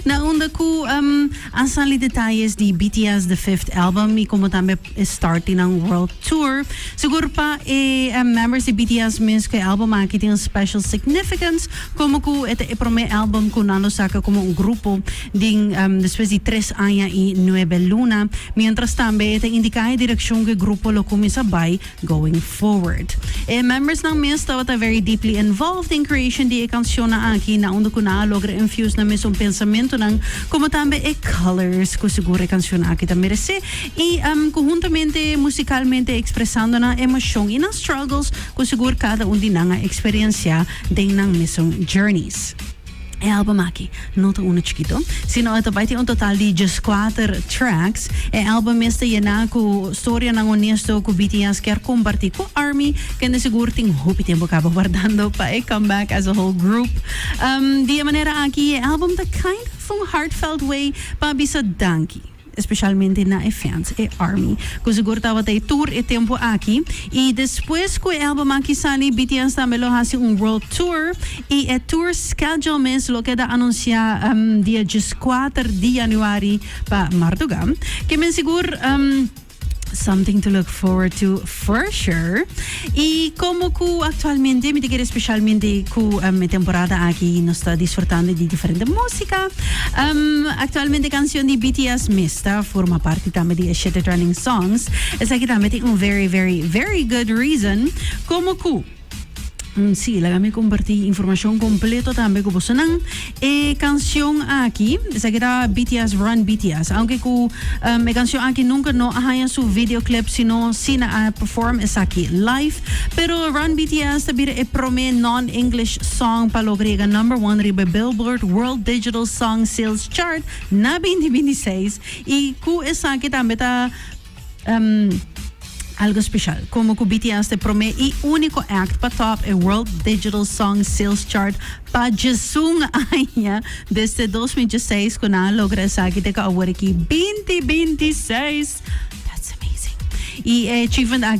Na unda cu a sali detalles di BTS The Fifth Album y como tambe e start di nan World Tour. Sigur pa e members di BTS mes cu e album aki tin un special significance como cu e ta e prome album cu nan lo saca como un grupo den despues di tres aña y nuebe luna. Mientras tambe e ta indica e direccion cu e grupo lo cuminsa bay. going forward. E membersnan mes tabata very deeply involved den creation di e cancionnan aki, na unda cu nan a logra infuse nan mesun pensamentonan como tambe e colors cu sigur e cancionnan aki ta merece y cu huntamente musicalmente expresando nan emocion y nan struggles cu sigur cada un di nan a experiencia den nan mesun journeys. E album aki no ta unu chikito, sino e ta bai tin un total di dieskuater tracks. E album mes ta yená ku storianan honesto ku BTS kier kompartí ku Army, kende sigur tin hopi tempu kaba wardando pa e comeback as a whole group. Di e manera aki e album ta kind of un heartfelt way pa bisa danki. especialmente na e fans, e army, cu sigur tabata ahí tur e tempo aki, y despues cu e album aki sali, BTS tambe lo haci un world tour, y e tour schedule mes lo keda anuncia dia dieskuater di januari pa Martuga, ke men sigur. Something to look forward to for sure. Y como cu actualmente, mi ta quiere especialmente cu um, temporada aki nos ta disfrutando di diferente música. Um, actualmente canción di BTS Mista forma parte tambe di Eshete Trending Songs. Esaki tambe tin un very, very, very good reason como cu Sí, laga mi comparti informacion completo tambe cu bosonan. E cancion aki, esaki ta BTS Run BTS. Aunke cu e cancion aki nunca no a haña su videoclip sino si nan a perform esaki live. Pero Run BTS ta bira e prome non-English song pa logra yega number one riba e Billboard World Digital Song Sales Chart na binti binti seis. Y cu esaki tambe ta algo special como cu BTS t'e prome y unico act pa top e World Digital Song Sales Chart pa djesun aña desde dos mil dieseis cu nan a logra esaki te cu aworiki binti binti seis that's amazing y e achievement aki